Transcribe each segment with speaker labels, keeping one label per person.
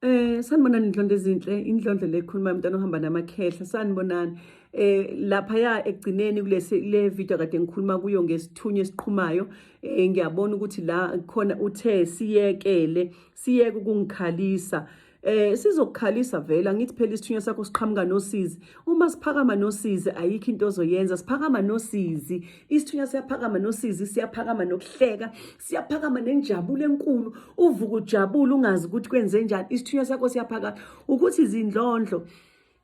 Speaker 1: Eh sanibonani inhlonto ezinhle inhlonto le khuluma umntana ohamba namakhehla sanibonani eh lapha ya ekugcineni kulesi le video kade ngikhuluma kuyo ngesithunywa esiqhumayo eh ngiyabona ukuthi la khona uthe siyekele siyeke ukungikhalisa eh sizokukhalisa vela ngithi phela isithunywa sakho siqhamuka nosizi uma siphakama nosizi ayikho into ozoyenza siphakama nosizi isithunywa siyaphakama nosizi siyaphakama nokuhleka siyaphakama nenjabulo enkulu uvuka ujabule ungazi ukuthi kwenze njani isithunywa sakho siyaphakama ukuthi izindlondlo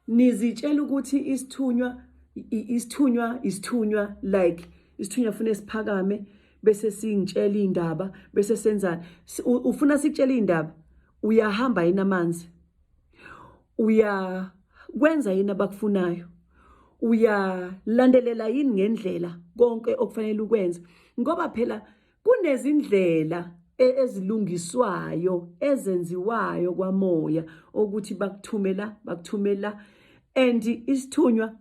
Speaker 1: nizitshela ukuthi isithunywa isithunywa isithunywa like isithunywa fune siphakame bese singitshela indaba bese senzana ufuna sikutshela indaba uyahamba yini amanzi uyakwenza yini abakufunayo uyalandelela yini ngendlela konke okufanele ukwenze ngoba phela kunezindlela e, ezilungiswayo ezenziwayo kwamoya ukuthi bakuthumela bakuthumela and isithunywa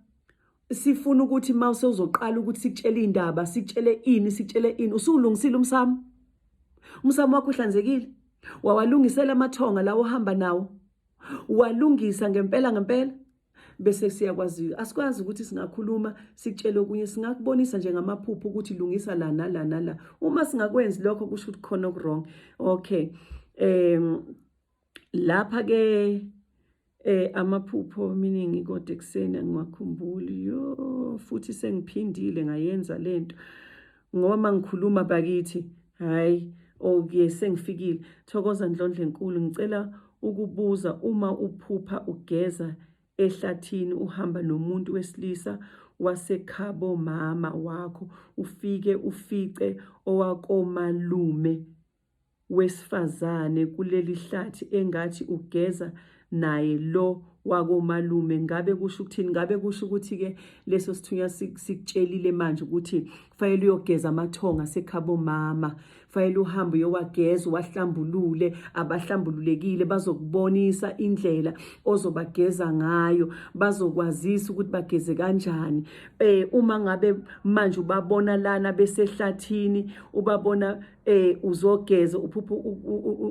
Speaker 1: sifuna ukuthi uma usewuzoqala ukuthi sikutshele iy'ndaba sikutshele ini sikutshele ini usuwulungisile umsamo umsamo wakho uhlanzekile wawalungisela amathonga lawo ohamba nawo walungisa ngempela ngempela bese siyakwazi asikwazi ukuthi singakhuluma sikutshele okunye singakubonisa nje ngamaphupho ukuthi lungisa la nala nala uma singakwenzi lokho kusho ukuthi khona okuwrong okay um lapha ke eh amaphupho miningi kodwa ekuseni angiwakhumbuli yo futhi sengiphindile ngayenza lento ngoba mangikhuluma bakithi hayi okay sengifikile thokoza ndlondle enkulu ngicela ukubuza uma uphupha ugeza ehlathini uhamba nomuntu wesilisa wasekhabo mama wakho ufike ufice owakomalume wesifazane kuleli hlathi engathi ugeza naye lo wakomalume ngabe kusho ukuthini ngabe kusho ukuthi ke leso sithunywa sikutshelile manje ukuthi kufanele uyogeza amathonga sekhabo mama kufanele uhambe uyowageza wahlambulule abahlambululekile bazokubonisa indlela ozobageza ngayo bazokwazisa ukuthi bageze kanjani eh uma ngabe manje ubabona lana besehlathini ubabona eh uzogeza uphuphu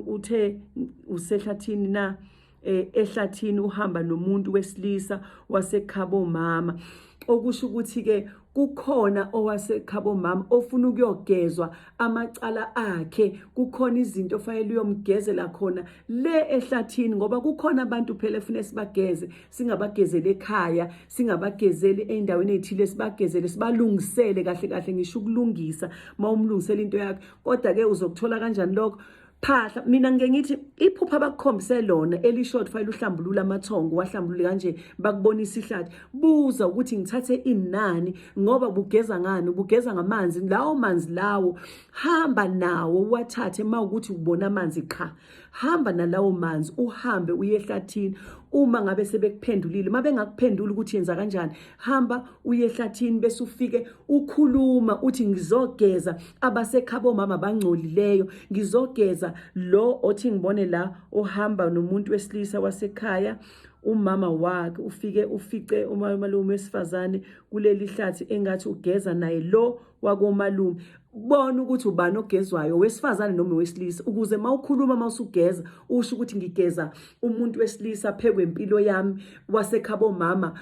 Speaker 1: uthe usehlathini na eh, ehlathini uhamba nomuntu wesilisa wasekhabo mama okusho ukuthi ke kukhona owasekhabo mama ofuna ukuyogezwa amacala akhe kukhona izinto ofanele uyomgezela khona le ehlathini ngoba kukhona abantu phela efuna sibageze singabagezele ekhaya singabagezeli ey'ndaweni ey'thile sibagezele sibalungisele kahle kahle ngisho ukulungisa uma umlungisela into yakhe kodwa-ke uzokuthola kanjani lokho phahla mina ngike ngithi iphupha abakukhombise lona elisho ukuthi fanele uhlambulule amathongo wahlambulule kanje bakubonisa ihlathi buza ukuthi ngithathe inani ngoba bugeza ngani ubugeza ngamanzi lawo manzi lawo hamba nawo wathathe uma ukuthi ubona amanzi qha hamba nalawo manzi uhambe uye ehlathini uma ngabe sebekuphendulile uma bengakuphenduli ukuthi yenza kanjani hamba uye ehlathini bese ufike ukhuluma uthi ngizogeza abasekhabo mama bangcolileyo ngizogeza lo othi ngibone la ohamba nomuntu wesilisa wasekhaya umama wakhe ufike ufice umalume wesifazane kuleli hlathi engathi ugeza naye lo wakomalume bona ukuthi ubani ogezwayo wesifazane noma wesilisa ukuze mawukhuluma mawusugeza usho ukuthi ngigeza umuntu wesilisa phekwe impilo yami wasekhabo mama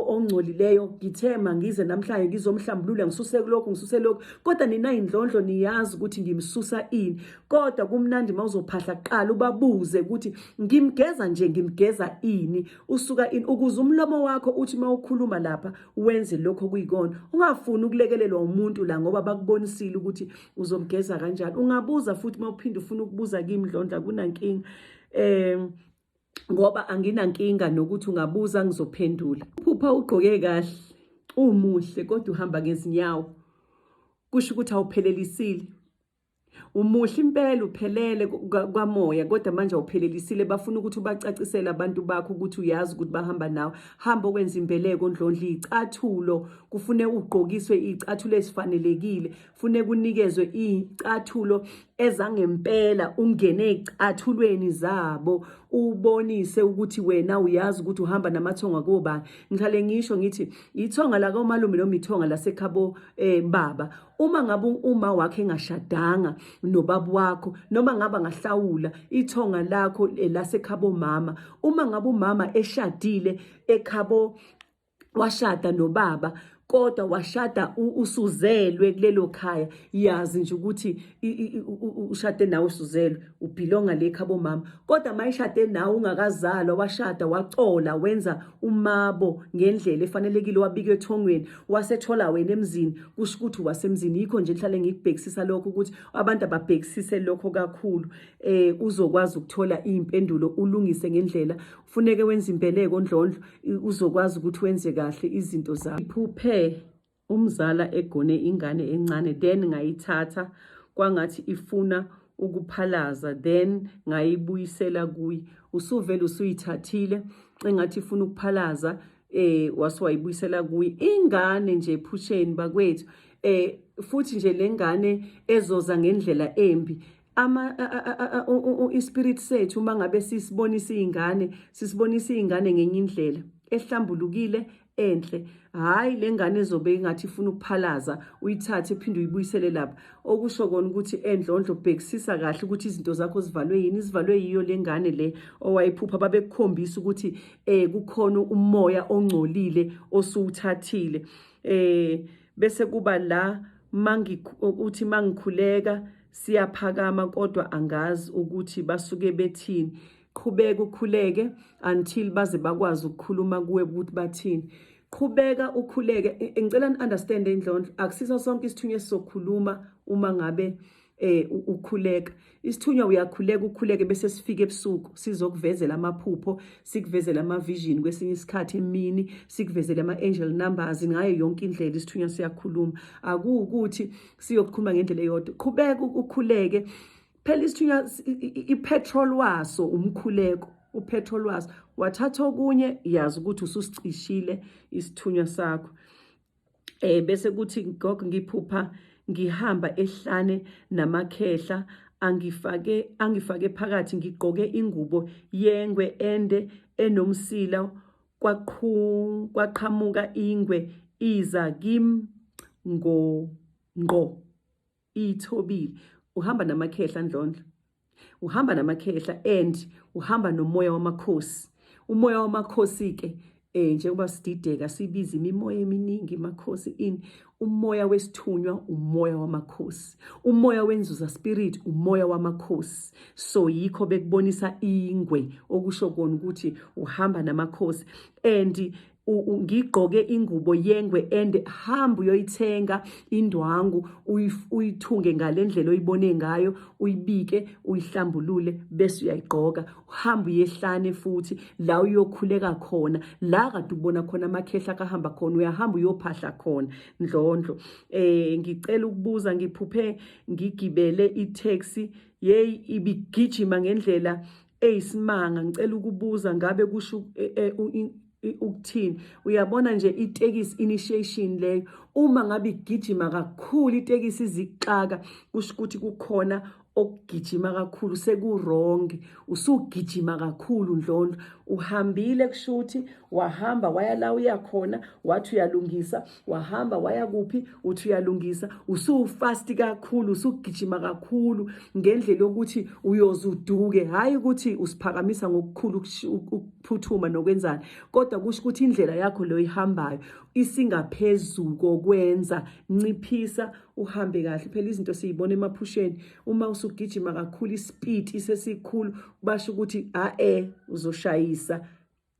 Speaker 1: ongcolileyo ngithema ngize namhlanje ngizomhlambulula ngisuse kulokho ngisuse lokho kodwa nina indlondlo niyazi ukuthi ngimsusa ini kodwa kumnandi mawuzophahla kuqala ubabuze ukuthi ngimgeza nje ngimgeza ini usuka ini ukuze umlomo wakho uthi mawukhuluma lapha wenze lokho okuyikona ungafuni ukulekelelwa umuntu la ngoba bakubonisile ukuthi uzomgeza kanjani ungabuza futhi uma uphinde ufuna ukubuza kimi ndlondla kunankinga um ngoba anginankinga nokuthi ungabuza ngizophendula uphupha ugqoke kahle umuhle kodwa uhamba ngezinyawo kusho ukuthi awuphelelisile Umuhle impela uphelele kwamoya kodwa manje awuphelelisile bafuna ukuthi ubacacisele abantu bakho ukuthi uyazi ukuthi bahamba nawe hamba okwenza imbeleko ondlondla icathulo kufune ugqokiswe icathulo esifanelekile fune kunikezwe icathulo ezangempela ungene ecathulweni zabo ubonise ukuthi wena uyazi ukuthi uhamba namathonga kobani ngihlale ngisho ngithi ithonga lakaomalume noma ithonga lasekhabo eh baba uma ngabe uma wakhe engashadanga nobaba wakho noma ngaba ngahlawula ithonga lakho eh, lasekhabo mama uma ngabe umama eshadile ekhabo washada nobaba kodwa washada usuzelwe kulelo khaya yazi nje ukuthi ushade nawe usuzelwe ubhilonga le khabo mama kodwa mayishade nawe ungakazalwa washada wacola wenza umabo ngendlela efanelekile wabika ethongweni wasethola wena emzini kusho ukuthi wasemzini yikho nje ngihlale ngikubhekisisa lokho ukuthi abantu ababhekisise lokho kakhulu eh uzokwazi ukuthola impendulo ulungise ngendlela ufuneke wenze impeleko ondlondlo uzokwazi ukuthi wenze kahle izinto zakho iphuphe umzala egone ingane encane then ngayithatha kwangathi ifuna ukuphalaza then ngayibuyisela kuyi usuvele usuyithathile engathi ifuna ukuphalaza eh wasiwayibuyisela kuyi ingane nje phusheni bakwethu eh futhi nje lengane ezoza ngendlela embi ama ispirit sethu uma ngabe sisibonisa izingane sisibonisa izingane ngenye indlela ehlambulukile enhle hayi lengane ezobe ingathi ifuna ukuphalaza uyithathe phinde uyibuyisele lapha okusho kona ukuthi endlondlo bhekisisa kahle ukuthi izinto zakho zivalwe yini zivalwe yiyo lengane le owayiphupha babekukhombisa ukuthi eh kukhona umoya ongcolile osuwuthathile eh bese kuba la mangi ukuthi mangikhuleka siyaphakama kodwa angazi ukuthi basuke bethini qhubeka ukhuleke until baze bakwazi ukukhuluma kuwe ukuthi bathini qhubeka ukhuleke ngicela ni understand indlondlo akusisa sonke isithunywa esizokhuluma uma ngabe eh ukhuleka isithunywa uyakhuleka ukhuleke bese sifike ebusuku sizokuvezela amaphupho sikuvezela ama vision kwesinye isikhathi emini sikuvezela ama angel numbers ngayo yonke indlela isithunywa siyakhuluma akuwukuthi siyokukhuluma ngendlela eyodwa qhubeka ukhuleke phela isithunywa ipetrol waso umkhuleko upetrol waso wathatha okunye yazi ukuthi ususicishile isithunywa sakho eh bese kuthi gogo ngiphupha ngihamba ehlane namakhehla angifake angifake phakathi ngigqoke ingubo yengwe ende enomsila kwaqhu kwaqhamuka ingwe iza kim ngo ngqo ithobile uhamba namakhehla ndlondlo uhamba namakhehla and uhamba nomoya wamakhosi umoya wamakhosi ke eh njengoba sidideka sibiza imimoya eminingi makhosi in umoya wesithunywa umoya wamakhosi umoya wenzuza spirit umoya wamakhosi so yikho bekubonisa ingwe okusho kona ukuthi uhamba namakhosi and ngigqoke ingubo yengwe and hamba uyoyithenga indwangu uyithunge ngale ndlela oyibone ngayo uyibike uyihlambulule bese uyayigqoka uhamba uyehlane futhi la uyokhuleka khona la kade ubona khona amakhehla kahamba khona uyahamba uyophahla khona ndlondlo eh ngicela ukubuza ngiphuphe ngigibele i-taxi yeyi ibigijima ngendlela Ey simanga ngicela ukubuza ngabe kusho eh, eh, ukuthini uyabona nje itekisi initiation leyo uma ngabe igijima kakhulu itekisi izixaka kusho ukuthi kukhona okugijima kakhulu sekuronge usugijima kakhulu ndlondlo uhambile kushuthi wahamba waya la uyakhona wathi uyalungisa wahamba waya kuphi uthi uyalungisa usufasti kakhulu usugijima kakhulu ngendlela yokuthi uyoze uduke hhayi ukuthi usiphakamisa ngokukhulu ukuphuthuma nokwenzani kodwa kusho ukuthi indlela yakho leyo ihambayo isingaphezulu kokwenza nciphisa uhambe kahle phela izinto siyibona emaphusheni uma usugijima kakhulu isipiti sesikhulu basho ukuthi a-e uzoshayisa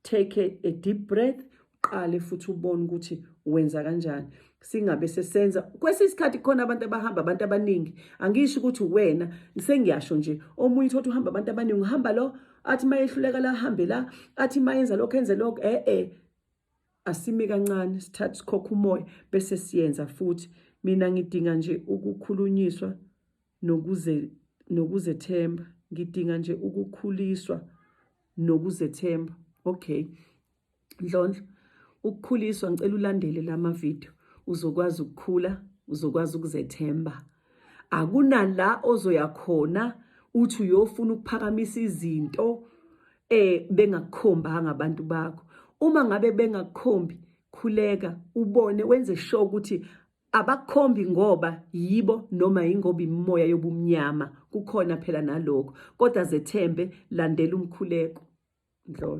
Speaker 1: take a, a deep breath uqale futhi ubone ukuthi wenza kanjani singabe sesenza kwesinye isikhathi khona abantu abahamba abantu abaningi angisho ukuthi wena sengiyasho nje omunye uthi uhamba abantu abaningi uhamba lo athi mayehluleka la hambe la athi mayenza lokho enze lokho eh eh asimi kancane sithathe sikhokha umoya bese siyenza futhi mina ngidinga nje ukukhulunyiswa nokuze nokuzethemba ngidinga nje ukukhuliswa nokuzethemba okay ndlondlo ukukhuliswa ngicela ulandele lama video uzokwazi ukukhula uzokwazi ukuzethemba akunala ozoya khona uthi uyofuna ukuphakamisa izinto eh bengakukhombanga abantu bakho uma ngabe bengakukhombi khuleka ubone wenze sure ukuthi abakhombi ngoba yibo noma yingoba imimoya yobumnyama kukhona phela nalokho kodwa zethembe landela umkhuleko ndlolo